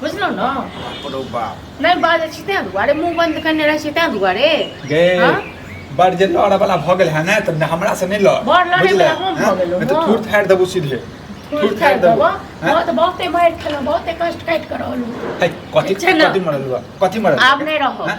बुझलहुँ ने बाप रौ बाप नहि बाजै छी तेँ दुआरे मुँह बन्द कयने रहै छी तेँ दुआरे गे हँ? बड़ जे लड़ऽ वाला भऽ गेल है ने तऽ ने हमरा से नहि लड़ बड़ लड़ै बुझले? वाला हम भऽ हँ? गेलहुँ, नहि तऽ हँ। थूर फाड़ि देबू सीधे फूल थूर खाइ देबो हँ? बहुत बहुते मारि खेलहुँ बहुते कष्ट काटि कऽ रहलहुँ है, कथी चल ना। कथी मरल हुआ कथी मरल आब नहीं रहो। हैं?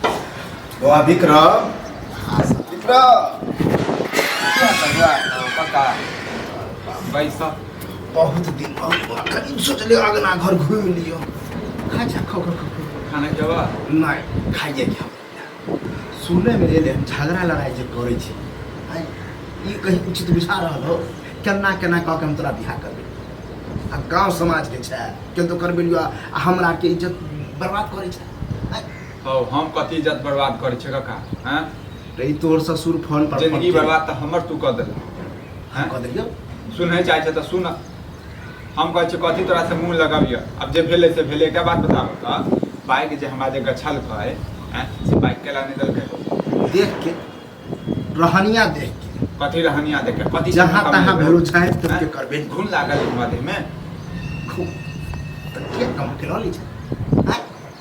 बौआ विक्रम विक्रम पैसा बहुत दिन बाद बौआ करीब सोचले अगना घर घूम लियो खा जा खो खो खो खाना जवा नहीं खाई जाए क्या सुने में एले हम झगड़ा लड़ाई जे करे छी आय, ई कहीं उचित बुझा रहल हो केना केना कह के हम तोरा बियाह करबे आ गांव समाज के छै केन तो करबे लियो आ हमरा के इज्जत बर्बाद करे छै हौ हम कथी इज्जत बर्बाद करै छै काका हैं रे ई तोहर ससुर फोन पर जिंदगी बर्बाद तऽ हमर तू कऽ देलक हैं कऽ देलियो सुनै चाहै छै तऽ सुन हम कहै छियै कथी तोरा से मुंह लगाबियऽ आब जे भेलै से भेलै एकटा बात बताबऽ तऽ बाइक जे हमरा जे गछलकै हैं से बाइक केला नहि देलकै हो देख के रहनिया देख के कथी रहनिया देखे कथी जहाँ कमी तहाँ भेलै? भेलू छाँटि हैं? तोड़के करबे ने। घुन लागल हमरा देहमे खूब तऽ के कमा के लऽ लै छै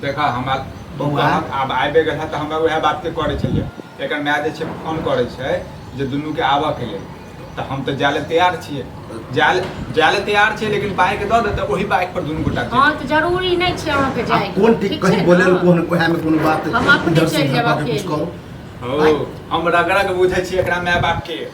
देखा हमरा बौआ। कहत आब आबि गेल है तऽ हमरा उएह बातके करै छलियै एकर माय जे छै फोन करै छै जे दुनूके आबऽके लेल तऽ हम तऽ जाय लए तैयार छियै जाय लए जाय लए तैयार छियै लेकिन बाइक दऽ दे तऽ ओहि बाइक पर दुनू गोटा हँ चलि तऽ जरूरी नहि छै अहाँके आ जायके कोन ठीक कहीं छै बोले ने? कोन ओहे में कोनो बात हम अपने इधर से चलि इधर जाएब बात कुछ अकेले। करो जायब। ओ हम रगड़क बुझै छियै एकरा माय बापके